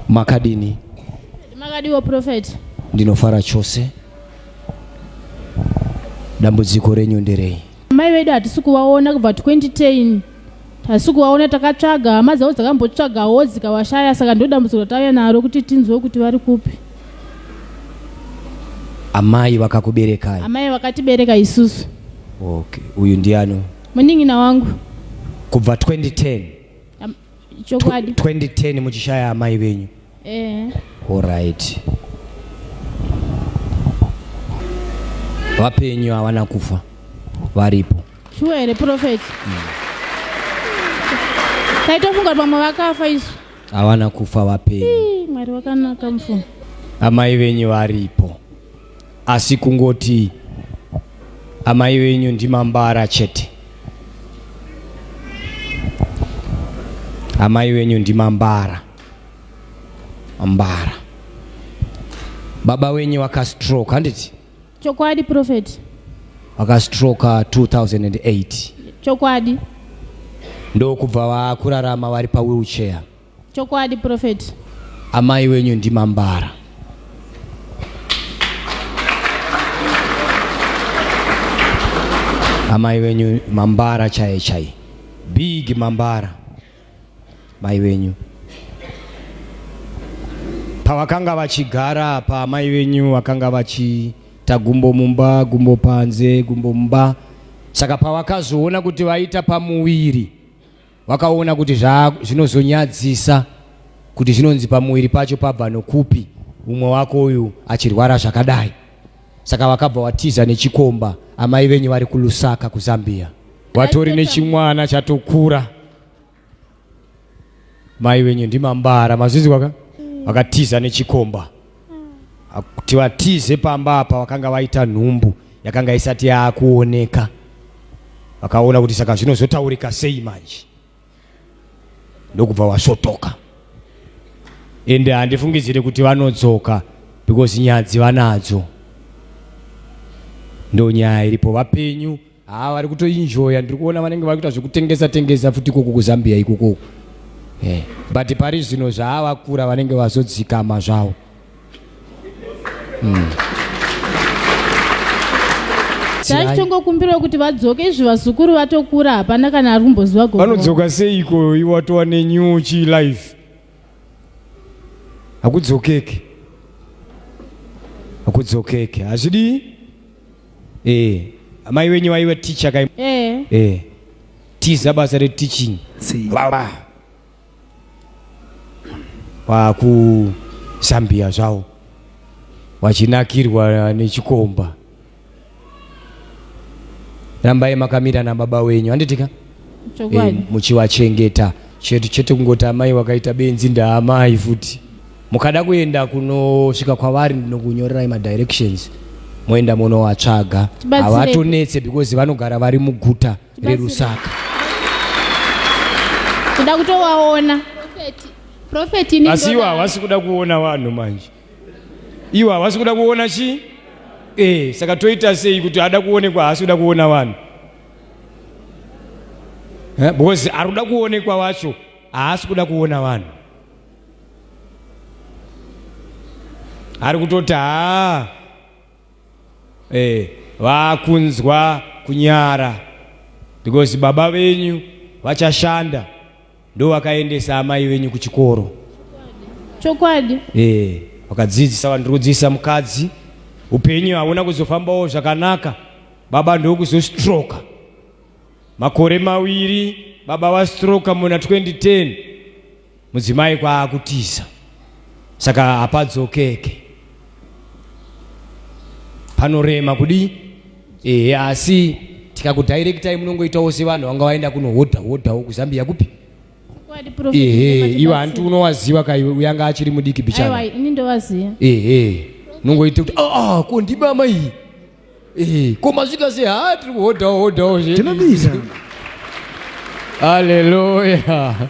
makadini makadiwo prophet ndinofara chose dambudziko renyu nderei mai vedu hatisi kuvaona kubva 2010 hatisi kuvaona takatsvaga hama dzavo dzakambotsvagawo dzikavashaya saka ndodambudziko ratauya naro kuti tinzwe kuti vari kupi amai vakakuberekai amai vakatibereka isusu okay uyu ndiano munin'ina wangu kubva 2010 Am- chokwadi 2010 muchishaya amai venyu eh alright vapenyu havana kufa varipo shuwa here prophet taitofunga kuti vamwe vakafa isu havana kufa vapenyu Ii, mwari wakanaka mfumo amai venyu varipo asi kungoti amai venyu ndimambara chete. Amai venyu ndimambara mbara. Baba wenyu vakastroke handiti? Chokwadi prophet. Vakastroke 2008. Chokwadi. Ndokubva vakurarama vari pa wheelchair. Chokwadi prophet. Amai wenyu ndimambara. Amai wenyu mambara chaye chaye. Big mambara. Mai wenyu. Pavakanga vachigara pa amai wenyu vakanga vachi ta gumbo mumba gumbo panze gumbo mumba saka pavakazoona kuti vaita pamuviri Wakaona kuti zva zvinozonyadzisa kuti zvinonzi pamuviri pacho pabva nokupi umwe wako uyu achirwara zvakadai. Saka wakabva watiza nechikomba amai venyu vari kuLusaka kuZambia. Watori nechimwana chatokura. Mai venyu ndimambara mazvizwa ka? Wakatiza nechikomba. kuti vatize pamba apa vakanga vaita nhumbu yakanga isati yaakuoneka vakaona kuti saka zvinozotaurika sei manje ndokubva wasvotoka ende handifungidzire kuti vanodzoka because nyadzi vanadzo ndonyaya iripo vapenyu haa vari kutoinjoya ndiri kuona vanenge vari kuita zvekutengesa tengesa futi ikoko kuzambia ikoko eh, but pari zvino zvaavakura vanenge vazodzikama zvavo mm. taitongokumbirawo kuti vadzoke izvi vazukuru vatokura hapana kana ari kumboziva go vanodzoka seiko iwatova nenew chi life hakudzokeke hakudzokeke hazvidii Eh, amai wenyu vaiva teacher kai? Eh. Eh. Tiza basa re teaching. Baba. Vaku Zambia zvavo. Vachinakirwa nechikomba. Rambai makamira na baba wenyu. Handitika? Chokwadi. Eh, muchiwachengeta. Chetu chete kungoti amai wakaita benzi ndaamai futi. Mukada kuenda kunosvika kwavari ndinokunyorerai madirections moenda monowatsvaga. Havatonetse because vanogara vari muguta reRusaka. Kuda kutowaona. Prophet ini. Asi iwo havasi kuda kuona vanhu manje. Iwo havasi kuda kuona chi? Eh, saka toita sei kuti ada kuonekwa haasi kuda kuona vanhu? Eh, because ari kuda kuonekwa wacho haasi kuda kuona vanhu. ari kutoti haa eh, vakunzwa kunyara because baba venyu vachashanda ndo vakaendesa amai venyu kuchikoro chokwadi eh, vakadzidzisa vandiri kudzidzisa mukadzi upenyu hauna kuzofambawo zvakanaka baba ndokuzostroka makore mawiri baba vastroka muna 2010 Mudzimai kwaakutiza saka hapadzokeke panorema kudii ehe asi tikakudirectai munongoitawo sevanhu vanga vaenda kunohodha hodhawo kuzambia kupi ehe iwe hanti unowaziva kaiwe uyanga achiri mudiki bichana ini ndowaziva ehe unongoita kuti aa ah, ah, ko ndimama iyi Eh, koma svika sei haa tiri kuhodhawo hodhawo zvedu. Tinobisa. Hallelujah.